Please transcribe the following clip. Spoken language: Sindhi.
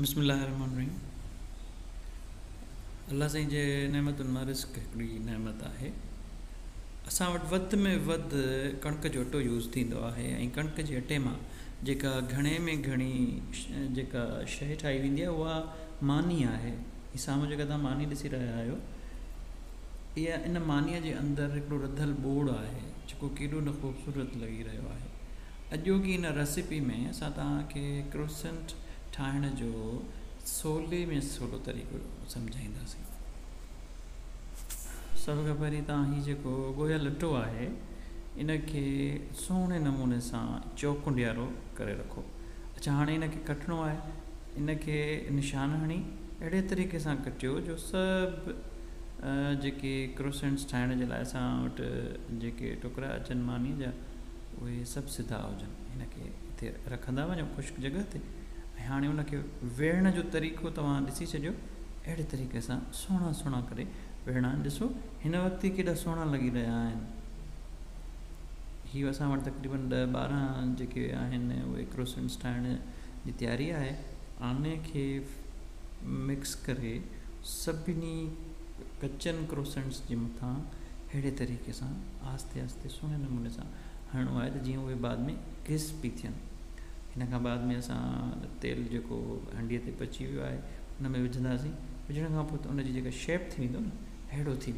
بسم الله الرحمٰن الرحيم الله سائين جي نعمتن مان رزق هڪڙي نعمت آهي اسان وٽ وڌ ۾ وڌ ڪڻڪ جو اٽو يوز ٿيندو آهي ۽ ڪڻڪ جي اٽي مان جيڪا گهڻي ۾ گهڻي جيڪا شيء ٺاهي ويندي آهي اها ماني آهي هي سامهون جيڪا توهان ماني ڏسي رهيا آهيو اها ان مانيء جي اندر هڪڙو رڌل ٻوڙ آهي جيڪو ڪيڏو نه خوبصورت لڳي رهيو آهي اڄوڪي هن ريسيپي ۾ اسان توهان کي ڪروسنٽ ٺاهڻ جو سولي ۾ سولو طريقو سمجهائينداسين. سڀ کان پهرين توهان هي جيڪو ڳوهيل اٽو آهي ان کي سهڻي نموني سان چوڪنڊيارو ڪري رکو. اڇا هاڻي ان کي ڪٽڻو آهي ان کي نشان هڻي اهڙي طريقي سان ڪٽيو جو سڀ جيڪي ڪروسنٽس ٺاهڻ جي لاء اسان وٽ جيڪي ٽڪرا اچن ماني جا اهي سڀ سڌا هجن. هن کي اتي رکندا وڃو خشڪ جڳهه تي ۽ هاڻي ان کي ويڙهڻ جو طريقو توهان ڏسي ڇڏيو. اهڙي طريقي سان سهڻا سهڻا ڪري ويڙهڻا آهن. ڏسو هن وقت ئي ڪيڏا سهڻا لڳي رهيا آهن. هي اسان وٽ تقريبن ڏهه ٻارهن جيڪي آهن اهي ڪروسنٽس ٺاهڻ جي تياري آهي. انهي کي مڪس ڪري سڀني ڪچن ڪروسنٽس جي مٿان اهڙي طريقي سان آهستي آهستي سهڻي نموني سان هڻڻو آهي ته جيئن اهي بعد ۾ ڪرسپي ٿين ان کان بعد ۾ اسان تيل جيڪو هنڊي تي بچي ويو آهي ان ۾ وجهنداسين وجهڻ کان پوء ته ان جي جيڪا شيپ ٿي ويندو نه اهڙو ٿي ويندو